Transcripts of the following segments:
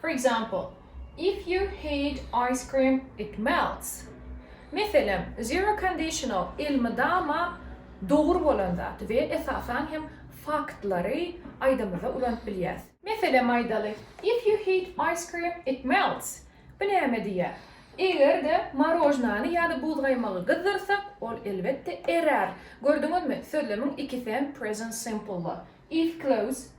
For example, If you heat ice cream, it melts. Meselem, Zero conditional elmydama dogry bolan zat we esasan hem faktlary aýdymyzda ulanyp bilýäris. Meselem aýdaly, If you heat ice cream, it melts. Bu näme diýýär? Eger-de morožnany ýa-da buzgaýmagy gyzdyrsak, ol elbetde erär. Gördüňizmi, sözlemiň ikisi hem present simple-la. If clothes.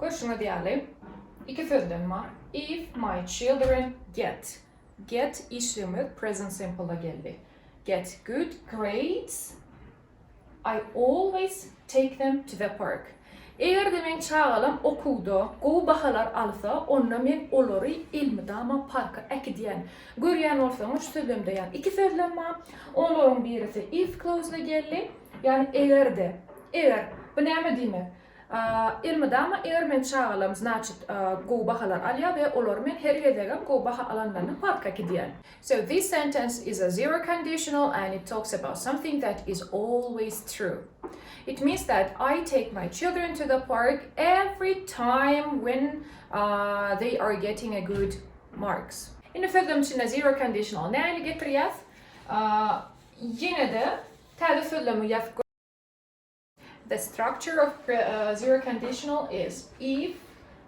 Görşüňiz ýaly, iki sözden bar. If my children get. Get işligimiz present simple-da geldi. Get good grades, I always take them to the park. Eger-de meň çagalam okuwda gowy bahalar alsa, onda men olary elmydama parka äkidýän. Görýän bolsaňyz, şu sözlemde ýa iki sözlem bar. Olaryň birisi if clause-da geldi. Ýagny eger-de, eger, bu näme diýmek? Elmydama eger men çagalarym znaçit gowy bahalar alýar we olary men her gezegem gowy baha alanlaryna patka gidýän. So this sentence is a zero conditional and it talks about something that is always true. It means that I take my children to the park every time when they are getting a good marks. Indi sözlem içinde zero conditional näni getirýär? Ýene-de Täze sözlemi ýazyp gör. The structure of present conditional is if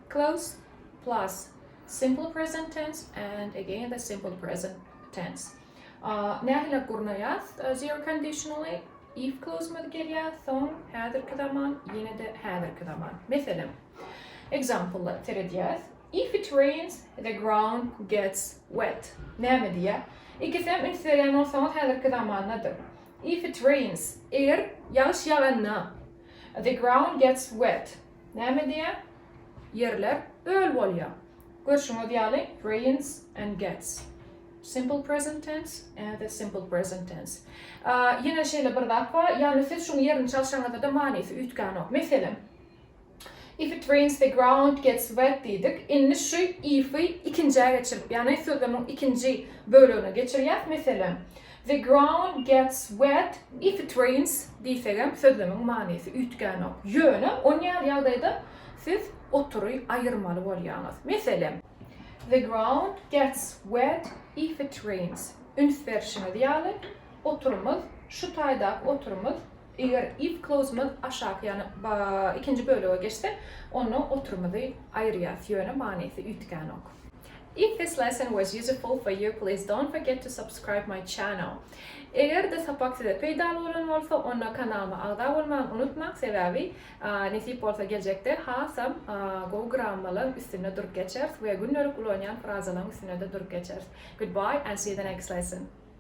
clause plus simple present tense and again the simple present tense. Nähili gurnaýas zero conditionally if clause-myz gelýär, soň häzirki zaman, ýene-de häzirki zaman. Meselem, example-lar seredýäs. If it rains, the ground gets wet. Näme diýýär? Ikisem üns berýän bolsaňyz häzirki zamandadyr. If it rains, eger ýagyş ýaganda, the ground gets wet. Näme diýýär? Ýerler öl bolýar. Görşüňiz ýaly, rains and gets. Simple present tense and the simple present tense. Ýene şeýle bir zat bar, ýagny siz şuň ýerini çalşaňyzda-da manysy üýtgänok. Meselem. If it rains the ground gets wet diýdik. Indi şu if-i ikinjä geçirip, ýagny sözlemiň ikinji bölegine geçirýäs. Meselem, The ground gets wet if it rains diýsegem sözlemiň manysy üýtgänok. Ýöne onýaly ýagdaýda siz otury aýyrmaly bolýaňyz. Meselem, The ground gets wet if it rains. Üns berşiňiz ýaly, oturymyz, şu taýdaky oturymyz Eger if clause-myz aşaky, ýagny ba, ikinji bölege geçse, onda oturymyzy aýyrýas, ýöne manysy üýtgänok. If this lesson was useful for you please don't forget to subscribe my channel Eger-de sapak size peýdaly bolan bolsa, onda kanalyma agza bolmagyny unutmaň, sebäbi nesip bolsa geljekde hasam gowy grammalaň üstünde durup geçeris we gündelik ulanýan frazalaň üstünde-de durup geçeris. Goodbye and see you the next lesson.